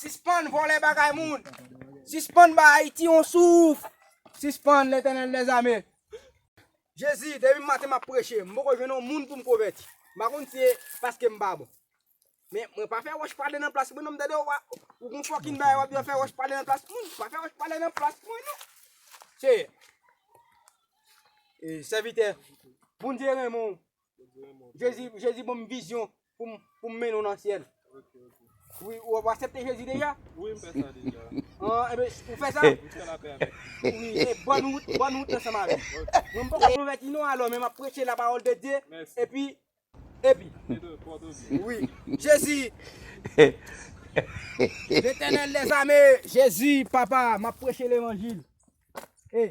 Sispann vòlè bagay moun. Sispann bay Ayiti yon souf. Sispann, Letènèl dèzame. Jezi, depi maten map preche, m poko jwenn yon moun poum konvèti. M pa konn si se paske m pa bon. Men, mwen pa fè wòch pale nan plas mwen non, m tande w a, ou gon fòkin bagay wap di wap fè wòch pale nan plas moun. M pa fè wòch pale nan plas mwen non. Seyè, e, sèvitè, Bondye renmen w, Jezi, Jezi bon m vizyon pou m pou m mennen w nan syèl. Ou, ou ou aksepte Jezi deja? Oui, m fè sa deja. Ah, ebe, ou fè sa? M fè lapè avèk li. Oui, e bonne route, bonne route ansanm avèm. Mwen m poko konvèti non alò, men m ap preche la pawòl de Dye, epi, epi. Oui, Jezi. Letènèl dèzame, Jezi, papa, m ap preche levanjil. E.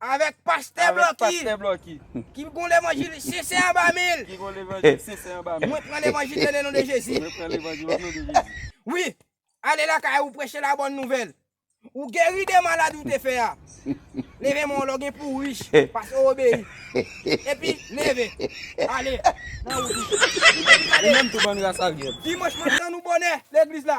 Avèk pastè blòki. Avèk pastè blòki. Ki gon levanjil sensè anba men l. Ki gon levanjil sensè anba men l. Mwen pran levanjil yo le non de Jezi. Mwen pran levanjil yo le non de Jezi. Wi, ale lakay ou preche la bòn nouvèl. Ou geri de maladi ou te fè a. Leve men w lè w gen pou w rich, paske w obeyi. Epi, leve. Ale, nan wout ou. Ou menm tou bann ras avyèl. Dimanch maten nou bonè legliz la.